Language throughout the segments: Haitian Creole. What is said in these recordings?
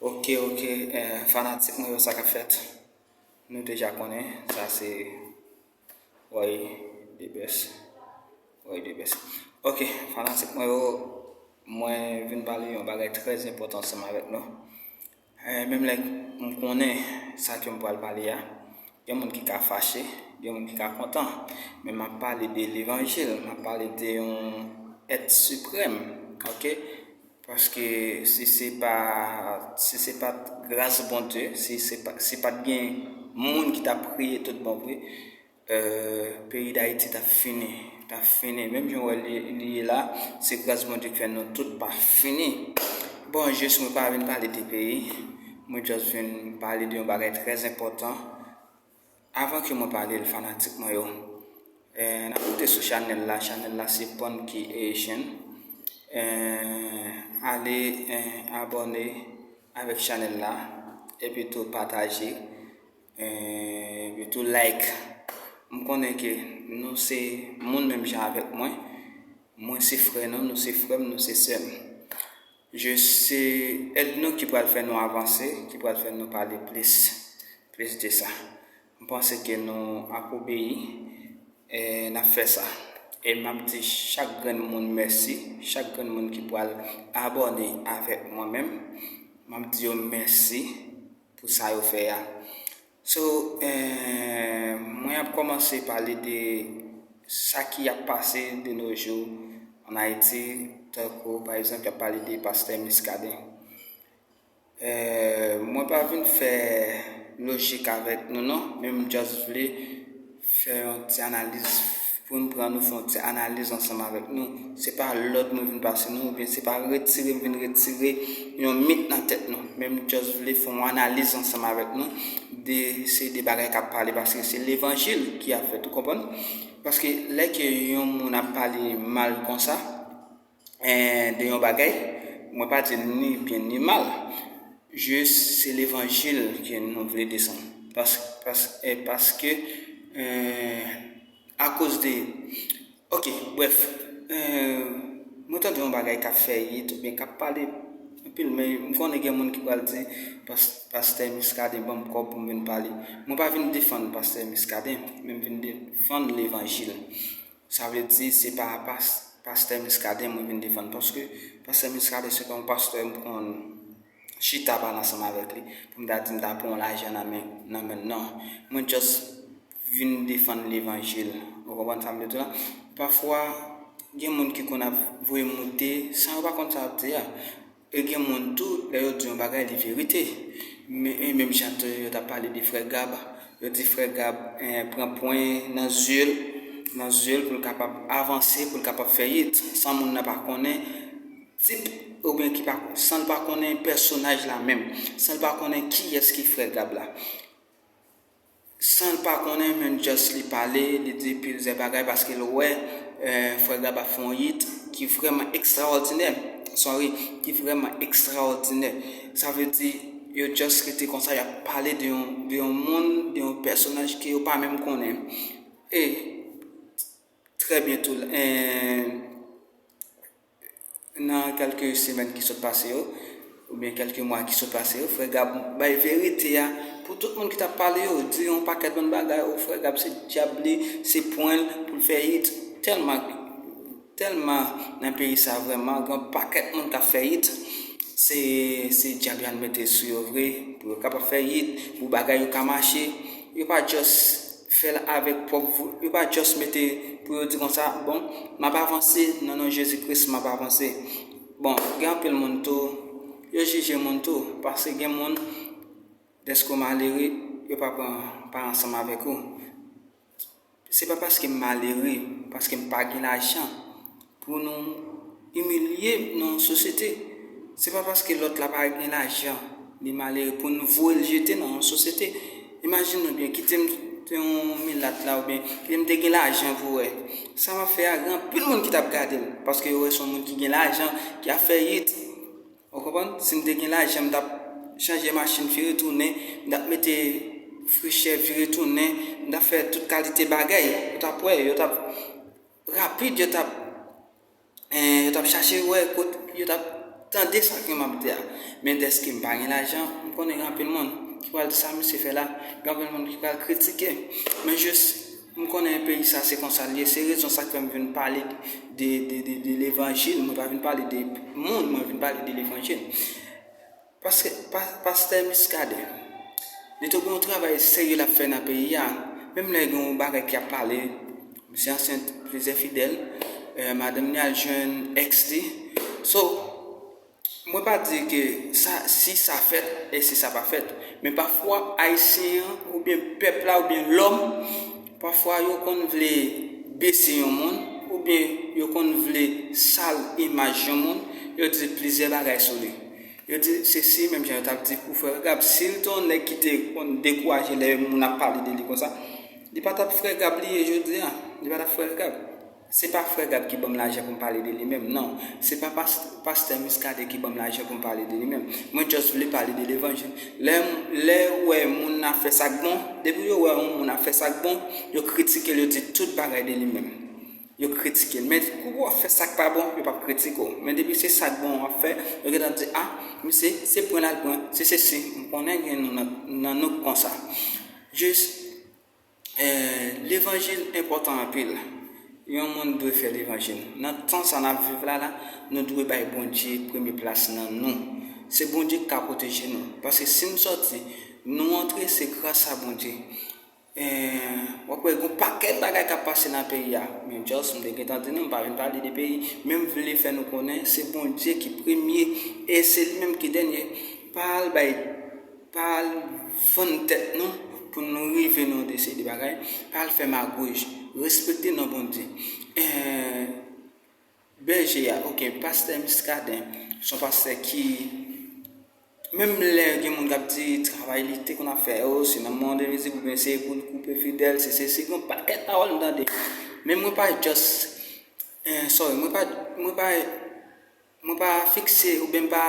Ok ok fanatik mwen yo sa kap fèt nou deja konnen sa se Roy the best Roy the best ok fanatik mwen yo mwen vin pale yon bagay trè enpòtan ansanm avèk nou menm lè m konnen sa ke m pral pale a gen moun ki ka fache gen moun ki ka kontan men map pale de levanjil map pale de yon èt siprèm ok. Paske si se pa si se pat gras Bondye, si se pa si pat gen moun ki ta priye tout bon vre peyi Dayiti ta fini, ta fini menm jan ou wè li ye la, se gras Bondye ki fè nou tout pa fini. Bon jis mwen pa vin pale de peyi, mwen just vin pale de yon bagay trè enpòtan Avan ke mwen pale l fanatik mwen yo eh na koute sou chanèl la chanèl la se Punky Haitian eh ale eh abòne avèk chanèl la epi tou pataje eh epi tou like m konnen ke nou se moun menm jan avèk mwen mwen se frè nou nou se frè m nou se sè m Je se èd nou ki pral fè nou avanse, ki pral fè nou pale plis, plis de sa. M panse ke nou ap obeyi, e n ap fè sa. E m ap di chak grenn moun mèsi, chak grenn moun ki pral abòne avèk mwen menm, m ap di yo mèsi pou sa yo fè a. So mwen ap komanse pale de sa ki ap pase de no jou an Ayiti tankou pa egzanp y ap pale de pastè Miskaden. Mwen pa vin fè lojik avèk nou non men m just vle fè yon ti analiz pou n pran nou fè yon ti analiz ansanm avèk nou. Se pa lòd mwen vin pase nou oubyen se pa retire m vin retire yon mit nan tèt nou. Men m just vle fè yon analiz ansanm avèk nou de seri de bagay k ap pale paske se levanjil ki ap fèt ou konprann. Paske lè ke yon moun ap pale mal konsa. de yon bagay, mwen pa di ni byen ni mal, jis se levanjil ke nou vle desann. Paske, akoz de, ok, bref, mwen tande yon bagay kap fè it, ou byen kap pale, anpil men, m konnen gen moun ki pral di, pastè Miskaden banm kòb pou m vin pale. Mwen pa vin defann pastè Miskaden, men m vin defann levanjil. Sa vle di se pa pastè Muscadin mwen vin defann paske pastè Muscadin se pa yon pastè m konn chita pale ansanm avèk li pou m ta di m ta pran yon lajan nan men nan menl nan. Mwen just vin defann levanjil. Ou konprann sa m vle di w la? Pafwa gen moun ki konn ap voye moute san yo pa konn sa yo ap di a. E gen moun tou lè yo di yon bagay li verite. E menm jan tou yo ta pale de frè Gab, yo di frè Gab pran pwen nan zye l, nan zye l pou l kapab avanse, pou l kapab fè it san moun nan pa konnen tip oubyen ki pa san l pa konnen pèsonaj la menm, san l pa konnen kiyès ki frè Gab la. Sanl pa konnen menm just li pale li di pilzè bagay paskel wè frè Gab ap fè yon hit ki vrèman ekstraòdinè sorry ki vrèman ekstraòdinè sa vle di yo just rete konsa yap pale de yon de yon moun de yon pèsonaj ke yo pa menm konnen e trè byen tou eee. Nan kèlke semèn ki sot pase yo, oubyen kèlke mwa ki sot pase yo, frè Gab bay verite a pou tout moun ki tap pale yo, di yon pakèt bann bagay, oh frè Gab se dyab li, se pwen l pou l fè it, tèlman, tèlman nan peyi sa vrèman gen yon pakèt moun kap fè it, se, se dyab Yannmete sou yo vre pou yo kapab fè it, pou bagay yo ka mache, yo pa just. fèl avèk pwòp vre yo pa just mete pou yo di konsa bon map avanse nan non jezi kris map avanse bon gen anpil moun tou yo jije moun tou paske gen moun dèske ou malere yo pa pran pa ansanm avèk ou se pa paskem malere paskem pa gen lajan Pou nou imilye nan yon sosyete. Se pa paske lòt la pa gen lajan, li malere pou nou voye l jete nan yon sosyete. Imajine w byen, kite m te yon milat la oubyen kite m te gen lajan vre, sa m ap fè a gen anpil moun ki t ap gade m paske yo wè se yon moun ki gen lajan, ki ap fè it. Ou konprann? Si m te gen lajan, m t ap chanje machin vire tounen, m t ap mete frechè vire tounen, m t ap fè tout kalite bagay. Yo t ap wè, yo t ap. Rapid yo tap en yo tap chache wè kot yo tap tande sa ke map di a men dèske m pa gen lajan m konnen gen anpil moun ki pral di sa misye fè la gen anpil moun ki pral kritike men jis m konnen peyi sa se konsa l ye se rezon sa k fè m vin pale de de de levanjil mwen pa vin pale de moun mwen vin pale de levanjil. Paske pastè Muscadin li tou gen yon travay serye lap fè nan peyi a menm lè gen yon bagay ki ap pale misye ansent plizyè fidèl madanm li al jwenn ex li so mwen pa di ke sa si sa fèt e si sa pa fèt men pafwa ayisyen an oubyen pèp la oubyen lòm Pafwa yo konn vle bese yon moun, oubyen yo konn vle sal imaj yon moun, yo di plizyè bagay sou li. Yo di sesi, menm jan yo tap di pou frè Gab, si li te yon nèg ki te konn dekouraje lè moun ap pale de li konsa, li pa tap frè Gab li ye jodi a, li pa tap frè Gab. Se pa frè Gab ki banm lajan pou m pale de li menm nan. Se pa pastè Muscadin ki banm lajan pou m pale de li menm. Mwen just vle pale de levanjil. Lè yo wè moun ap fè sa k bon, depi yo wè yon moun ap fè sa k bon, yo kritike l, yo di tout bagay de li menm. Yo kritike l. Men kou wap fè sa k pa bon, yo pap kritike w. Men depi se sa k bon wap fè, yo gentan ap di a, misye se pran lal pran, se sesi, m konnen gen nou nan nou k konsa. Just. Levanjil enpòtan anpil. Yon moun dwe fè levanjil. Nan tan sa n ap viv la la, nou dwe bay Bondye premye plas nan nou. Se Bondye ki ka pwoteje nou. Paske si nou sòti, nou antre, se gras a Bondye. W ap wè gen yon pakèt bagay k ap pase nan peyi a. Men just m te gen tan di nou, m pa vin pale de peyi. Men m vle fè nou konnen se Bondye ki premye e se li menm ki dènye. Pa al bay. Pa al vann tèt nou pou nou rive nan de seri de bagay, pa al fè magouj, respekte non Bondye. Eeh Bèje a, ok, Pastè Muscadin, son pastè ki menm lè gen moun kap di travay li te konn ap fè yo, se nan mande mizik oubyen se pou l koupe fidèl, se sesi, gen yon pakèt pawòl m tande. Men mwen pa just, eeh sorry, mwen pa, mwen pa. Mwen pa fikse oubyen m pa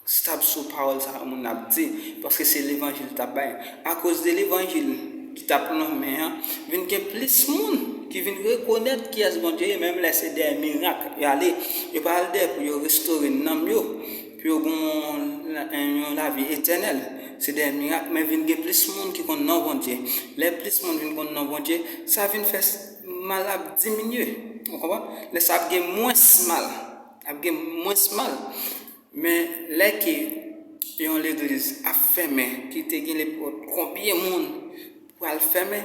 stab sou pawòl sa yo moun nan ap di, paske se levanjil li t ap bay. Akoz de levanjil ki t ap lonmen an, vin gen plis moun ki vin rekonèt kiyès Bondye ye, menm lè se dèyè mirak y ale. Yo pa al dèyè pou yo restore nanm yo, pou yo gen yon lavi etènèl, se dèyè mirak, men vin gen plis moun ki konn non Bondye. Lè plis moun vin konn non Bondye, sa vin fè. mal ap diminye ou konprann lè sa ap gen mwens mal ap gen mwens mal men lè ke yon legliz ap fèmen ki te gen lepòt konbyen moun pral fèmen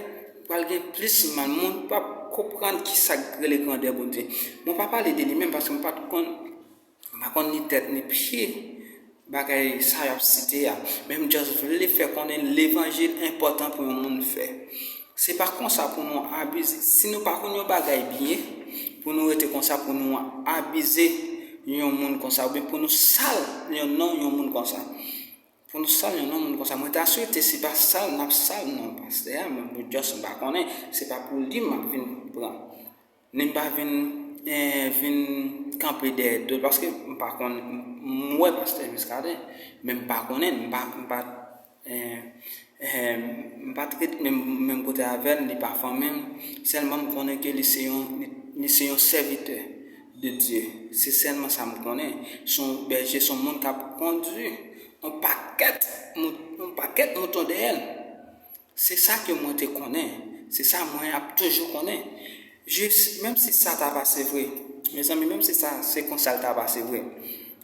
pral gen plis mal moun pap konprann ki sak rele grandè Bondye mwen pa pale de li menm paske mwen pat konn M pa konn ni tèt ni pye bagay sa y ap site a, men m just vle fè konnen levanjil enpòtan pou yon moun fè. Se pa konsa pou nou abize, si nou pa konn yon bagay byen, pou nou rete konsa pou nou abize yon moun konsa oubyen pou nou sal yon non yon moun konsa. Pou nou sal yon non moun konsa. Mwen ta swete se pa sal n ap sal non pastè a, men mwen just m pa konnen, se pa pou li m ap vin pran. Men m pa vin vin kanpe dèyè do l paske m pa konn m wè pastè Muscadin men m pa konnen m pa m pa m pat ret menm kote avè l li pa fanmi m sèlman m konnen ke li se yon li se yon sèvitè de Dye se sèlman sa m konnen se yon bèje se yon moun k ap kondui yon pakèt yon pakèt mouton dèyè l. Se sa ke mwen te konnen. Se sa mwen ap toujou konnen. Jis, menm si sa ta pase vre, mezanmi, menm si sa se konsa l ta pase vre,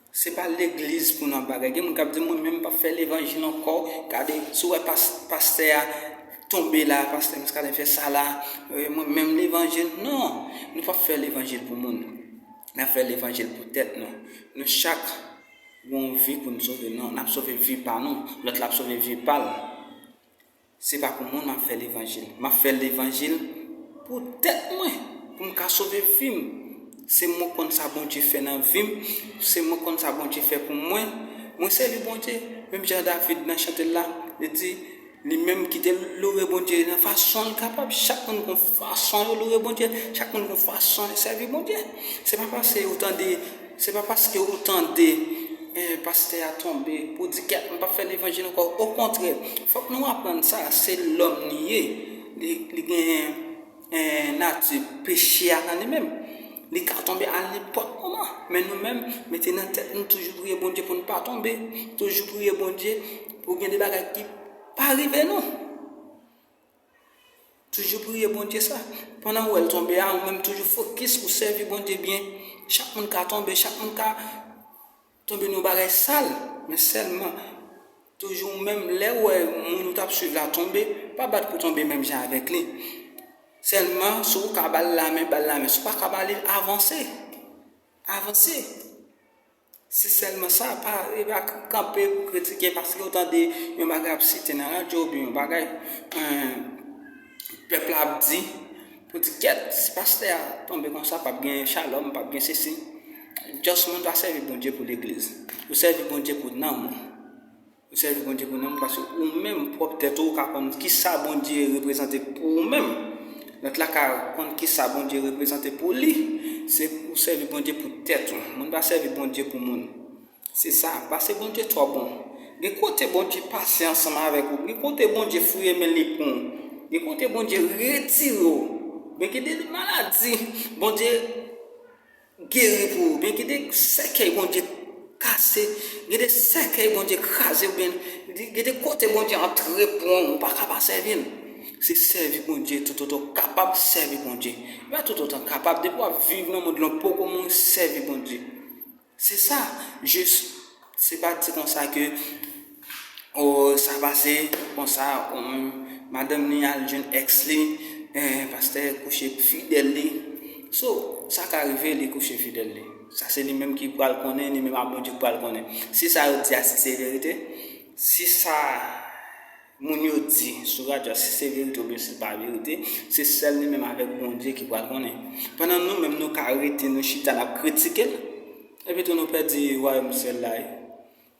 se pa legliz pou nan bagay. Gen moun k ap di, mwen menm m p ap fè levanjil ankò. Gade, si w wè pastè a tonbe la, pastè Miskaden fè sa la, mwen menm levanjil. Non! Nou p ap fè levanjil pou moun. N ap fè levanjil pou tèt nou. Nou chak. Yon vi pou n sove non, n ap sove vi pa nou, lòt la ap sove vi pa l. Se pa pou moun m ap fè levanjil. M ap fè levanjil pou tèt mwen, pou m ka sove vi m. Se mwen konn sa Bondye fè nan vi m, se mwen konn sa Bondye fè pou mwen. Mwen sèvi Bondye, menm jan David nan chante l la, li di. Li menm kitel loure Bondye nan fasonl kapab chak moun gon fason yo loure Bondye chak moun gon fason yo sèvi Bondye se pa pase ou tande se pa paske ou tande pastè a tonbe pou di ke m pap fè levanjil ankò okontrè fòk nou aprann sa se lòm li ye li gen nati peche a nan li menm li ka tonbe a nenpòt moman men nou menm mete nan tèt nou toujou priye Bondye pou nou pa tonbe toujou priye Bondye Pou gen de bagay ki pa rive nou. Toujou priye Bondye sa. Pandan ou wèl tonbe a ou menm toujou fokis ou sèvi Bondye byen. Chak moun ka tonbe, chak moun ka tonbe nou bagay sal. Men sèlman toujou ou menm lè ou wè moun ou tap swiv la tonbe, pa bat pou tonbe menm jan avèk li. Sèlman si ou ka bal lamen, bal lamen. Si ou pa ka bali, avanse. Avanse. Si sèlman sa, pa kanpe pou kritike paske ou tande yon bagay ap site nan radyo oubyen yon bagay pèp la ap di pou di kèt si pastè a tonbe konsa pap gen chalòm, pap gen sesi. Just moun pa sèvi Bondye pou legliz. Ou sèvi Bondye pou nanm ou. Ou sèvi Bondye pou nanm paske ou menm pwòp tèt ou ou ka konn kisa Bondye reprezante pou ou menm. Lòt la ka konn kisa Bondye reprezante pou li. Se ou sèvi Bondye pou tèt ou. Moun pa sèvi Bondye pou moun. Se sa, pase Bondye twò bon. Gen kote Bondye pase ansanm avèk ou, gen kote Bondye fouye men li pou ou, gen kote Bondye retire ou. Men gen de maladi Bondye. Geri pou ou byen gen de sèkèy Bondye kase gen de sèkèy Bondye kraze oubyen gen de kote Bondye antre pou ou ou paka pa sèvi l se sèvi Bondye toutotan ou kapab sèvi Bondye e pa toutotan ou kapab depi wap viv nan mond lan ou poko moun sèvi Bondye se sa jis Se pa di konsa ke oh sa pase konsa oh madanm li al jwenn ex li eh pastè kouche fidèl li so sa ka rive li kouche fidèl li sa se li menm ki pral konnen li menm ak Bondye ki pral konnen si sa yo di a si se verite si sa moun yo di sou radyo a si se verite oubyen si se pa verite se sèl li menm avèk Bondye ki pral konnen pandan nou menm nou ka rete nou chita nap kritikel. Epi tou nou pèdi wayòm syèl la e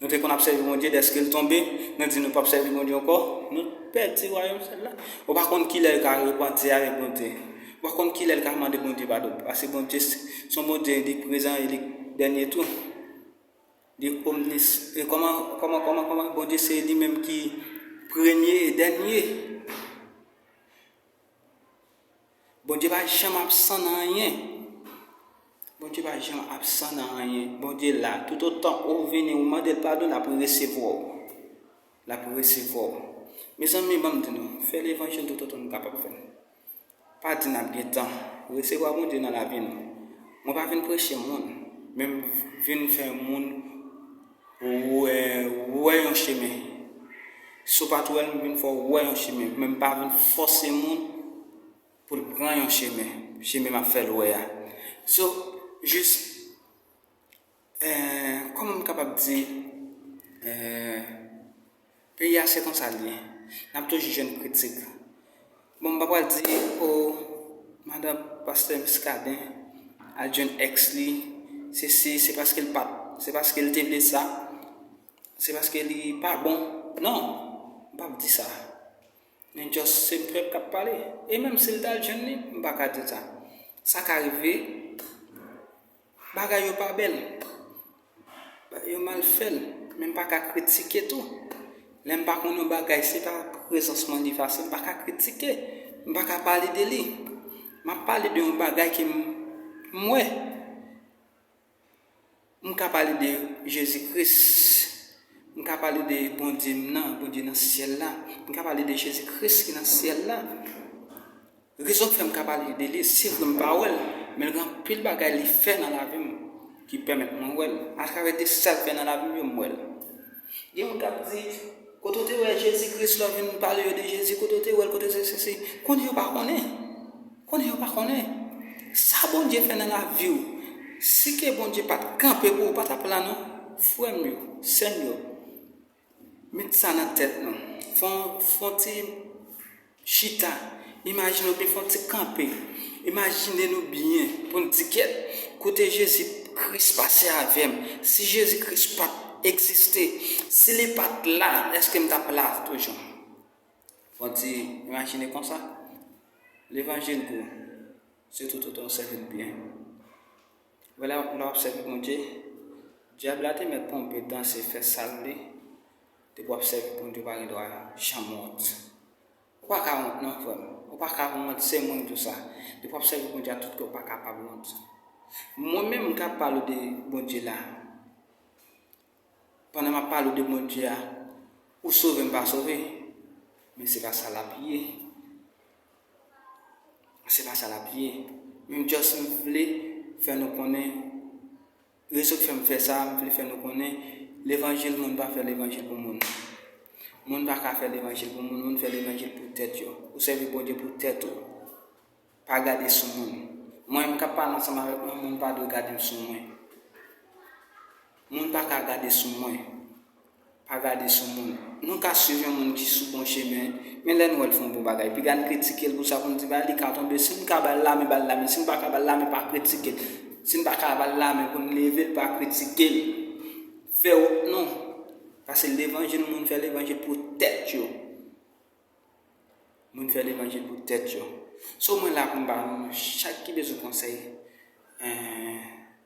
nou te konn ap sèvi Bondye dèske l tonbe nou di nou pap sèvi Bondye ankò nou pèdi wayòm syèl la ou pa konn kilè yo ka repanti avèk Bondye ou pa konn kilè l ka mande Bondye padon pase Bondye son Bondye li prezan e li dènye tou li omnis e kòman kòman kòman kòman Bondye se li menm ki premye e dènye. Bondye pa janm absan nan anyen. Bondye pa janm absan nan anyen. Bondye la. Tout otan ou vini ou mande l padon l ap resevwa w. L ap resevwa w. Mezanmi banm di nou, fè levanjil tout otan nou kapab fè l. Pa di n ap gen tan. Resevwa Bondye nan lavi nou. Mwen pa vin preche moun, men m vin fè moun. Ou wè yon chemen. Sopaturel m vin fè w wè yon chemen, men m pa vin fòse moun pou l pran yon chemen, chemen m ap fè l wè a. So, jis, kòman m kapab di, Peyi a se konsa l ye. N ap toujou jwenn kritik. Bon, m pa pral di o madan pastè Miskaden al jwenn èks li, se si, se paske l pa t, se paske l te vle sa, se paske li pa bon. Non! M p ap di sa. Men just se pèp k ap pale. E menm si l t al jwenn li, m pa ka di l sa. Sa ka rive. Bagay yo pa bèl. Bagay yo mal fèl. Men m pa ka kritike tou. Lè m pa konn yon bagay se pa prezans mwen li efase. M pa ka kritike. M pa ka pale de li. M ap pale de yon bagay ke m wè. M ka pale de Jezi Kris. M ka pale de Bondye m nan, Bondye nan syèl la. M ka pale de Jezi Kris ki nan syèl la. Rezon ki fè m ka pale de li, se vre m pa wè l, men gen anpil bagay li fè nan lavi m ki pèmèt mwen wè l. Atravè de sa l fè nan lavi m yo, m wè l. Gen moun k ap di, Kote w te wè Jezi Kris lè w vin pale yo de Jezi? Kote w te wè l? Kote sesesesi? Konnen yo pa konnen. Konnen yo pa konnen. Sa Bondye fè nan lavi w, si ke Bondye pa t kanpe pou ou, ou pa t ap la non. Frè m yo, sè m yo. Met sa nan tèt nou. Fè yon ti chita. Imajine w byen. Fè yon ti kanpe. Imajine nou byen pou n di kèt. Kote Jezi Kris pase avè m? Si Jezi Kris pa t egziste, si li pa t la, èske m t ap la toujou? Fè yon ti imajine konsa. Levanjil gou. Sitou tout an w sèvi l byen. Wè la nou ap sèvi Bondye. Dyab la te mèt ponpe, danse, fè sal li. Depi wap sèvi Bondye ou pa gen dwa janm wont. Ou pa ka wont non frè m. Ou pa ka wont se mwen ki di w sa. Depi wap sèvi Bondye ak tout kè w pa kapab wont. Mwen menm kap pale w de Bondye la. pandan map pale w de Bondye a ou sove m pa sove men se pa sa lap ye se pa sa lap ye men m just m vle fè nou konnen rezon ki fè m fè sa m vle fè nou konnen levanjil moun pa fè levanjil pou moun moun pa ka fè levanjil pou moun moun fè levanjil pou tèt yo ou sèvi Bondye pou tèt ou Pa gade sou moun. Mwen m kap pale ansanm avèk mwen moun pa dwe gade m sou mwen. Moun pa ka gade sou mwen. Pa gade sou moun. Nou ka swiv yon moun ki sou bon chemen, men lè n wè l fè yon bon bagay, piga n kritike l pou sa pou n di bagay li ka tonbe. Si n ka ba l lamen, ba l lamen. Si n pa ka ba l lamen, pa kritike l. Si n pa ka ba l lamen pou n leve l, pa kritike l. Fè wont non. Pase levanjil moun fè levanjil pou tèt yo. Moun fè levanjil pou tèt yo. So mwen la poum ba nou chak ki bezwen konsèy.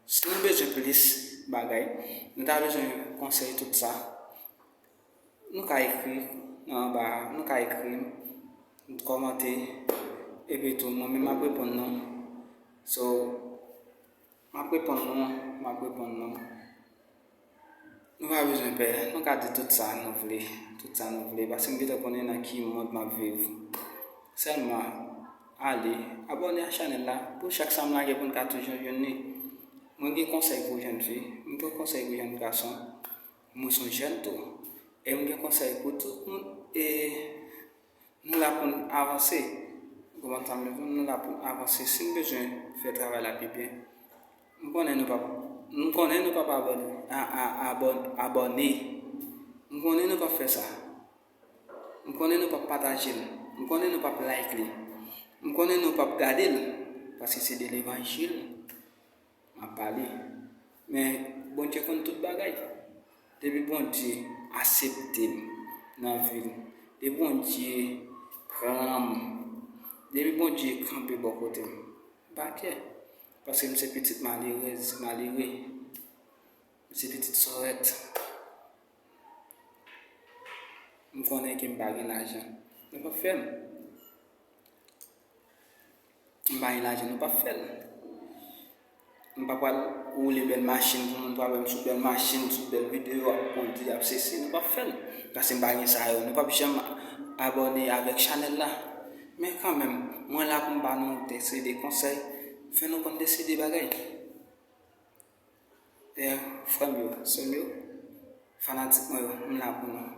Si nou bezwen plis bagay, nou ta bezwen konsèy tout sa. Nou ka ekri nan anba, nou ka ekri m, nou kòmante epi tou mwen menm map reponn nou. So. Map reponn nou an, map reponn nou. Nou pa bezwen pè, nou ka di tout sa nou vle, tout sa nou vle, paske m gentan konnen nan ki mond map viv. Sèlman, ale, abòne a chanèl la, pou chak sa m lage pou n ka toujou jwenn li. Mwen gen konsèy pou jèn fi, m gen konsèy pou jèn gason, mwen son jèn tou, e m gen konsèy pou tout moun e. Nou la pou n avanse. Ou konprann sa m vle di w? Nou la pou n avanse. Si n bezwen fè travay la pi byen, m konnen nou pap m konnen nou pap abòne. M konnen nou pap fè sa. M konnen nou pap pataje l. M konnen nou pap like li. M konnen nou pap gade l. Paske se de levanjil. Map pale men Bondye konn tout bagay depi Bondye aseptem nan vim depi Bondye pranm depi Bondye kanpe bò kotem mpa kè paske mse pitit malerèz malere mse pitit sòrèt mkonnen ke mpa gen lajan yo pap fèm. M pa gen lajan nou pap fèl. M pa pral woule bèl machin pou moun pral wèm sou bèl machin, sou bèl videyo ap kondi, ap sesi, nou pap fèl. Paske m pa gen sa yo. Nou pap janm abòne avèk chanèl la. Men kanmenm, mwen la pou m ba nou de seri de konsèy, fè nou konn de seri de bagay. D'ailleurs frèm yo, sèm yo, fanatik mwen yo m la pou nou.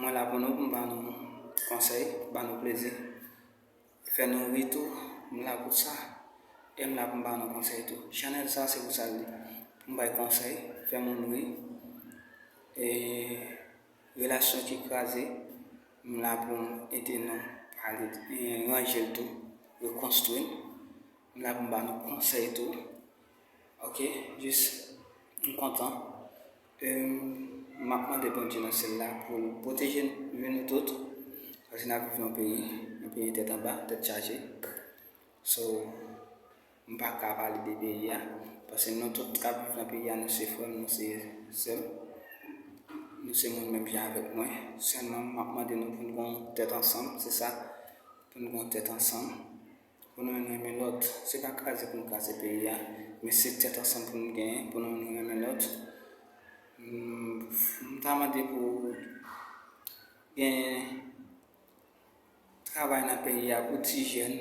Mwen la pou nou pou m ba nou konsèy, ba nou plezi, fè nou ri tou, m la pou sa. E m la pou m ba nou konsèy tou. Chanèl sa se pou sa l ye. Pou m bay konsèy, fè moun ri. E relasyon ki kraze, m la pou m ede nou pale, ranje l tou, rekonstwi l. M la pou m ba nou konsèy tou. Ok jis m kontan e m ap mande Bondye nan syèl la pou l pwoteje nou tout paske n ap viv nan peyi, yon peyi tèt anba, tèt chaje. So m pa ka pale de peyi a paske nou tout k ap viv nan peyi a nou se frè m, nou se sè m, nou se moun menm jan avèk mwen. Sèlman m ap mande nou pou n gen yon tèt ansanm, se sa, pou n gen yon tèt ansanm. Pou nou youn renmen lòt. Se pa kraze pou nou kraze peyi a, men se tèt ansanm pou nou genyen, pou nou youn renmen lòt. M ta mande pou genyen travay nan peyi a pou ti jèn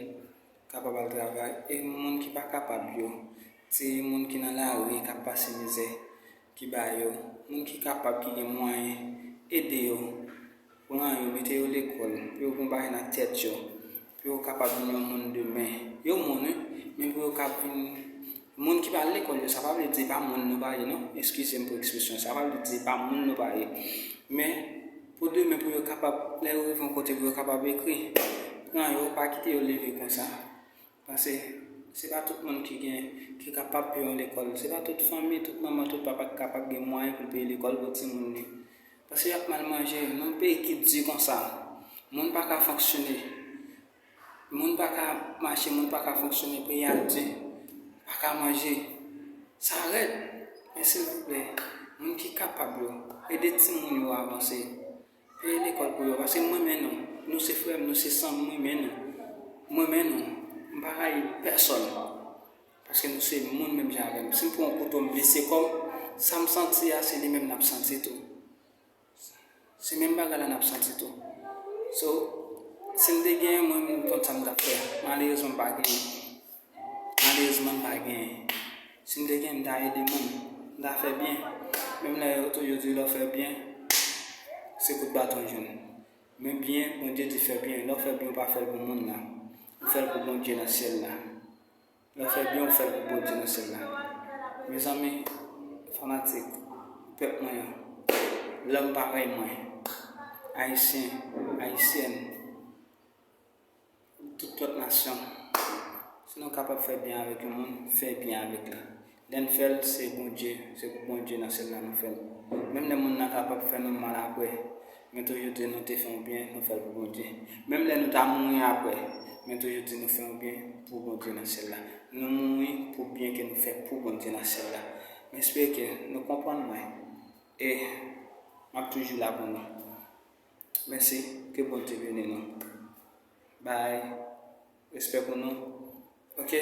kapab al travay e moun ki pa kapab yo, ti moun ki nan lari k ap pase mizè, ki ba yo. Moun ki kapab, ki gen mwayen, ede yo, pran yo, mete yo lekòl, pou yo gonbay nan tèt yo, Pou yo kapab vin yon moun demen. Yo moun wi, men pou yo kab vin moun ki pral lekòl yo, sa pa vle di se pa moun nou pa ye non, eskize m pou ekspresyon sa, sa pa vle di se pa moun nou pa ye. Men, pou demen pou yo kapab, lè yo rive yon kote pou yo kapab ekri, pran yo, pa kite yo leve konsa. Pase, se pa tout moun ki gen, ki kapab peye yon lekòl. Se pa tout fanmi, tout manman, tout papa ki kapab gen mwayen pou l peye lekòl pou timoun li. Paske yap mal manje nan peyi ki di konsa moun paka fonksyone moun paka mache moun paka fonksyone peyi a di paka manje sa rèd men silvouplè moun ki kapab yo ede timoun yo avanse peye lekòl pou yo paske mwen renmen nou nou se frèm nou se sanm mwen renmen nou mwen renmen nou mpa rayi pèsòn. Paske nou se moun menm jan avèm. Sim pran yon kouto m blese kòm, sam santi a se li menm nap santi tou. Se menm bagay la nap santi tou. So, sim te genyen mwen menm kont sam tap fè. Malerezman m pa genyen. Malerezman m pa genyen. Sim te genyen m ta ede moun. M ta fè byen. Menm lè yo toujou di lè w fè byen, se kout baton w jwenn. Men byen, Bondye di fè byen. Lè w fè byen ou pa fèl pou moun nan. Ou fèl pou Bondye nan syèl la. Lè fè byen ou fèl pou Bondye nan syèl la mezanmi fanatik pèp mwen yo lòm parèy mwen ayisyen ayisyèn tout lòt nasyon si nou kapab fè byen avèk yon moun fè byen avèk li. Lèn fèl se Bondye se pou Bondye nan sèlman nou fèl menm lè moun nan kapab fè nou mal aprè men toujou di nou te fè yon byen nou fèl pou Bondye menm lè nou ta mouri aprè men toujou di nou fè yon byen pou Bondye nan syèl la nou mouri pou byen ke nou fè pou Bondye nan syèl la mespere ke nou konprann mwen e map toujou la pou nou mèsi ke Bondye beni nou bay respè pou nou ok.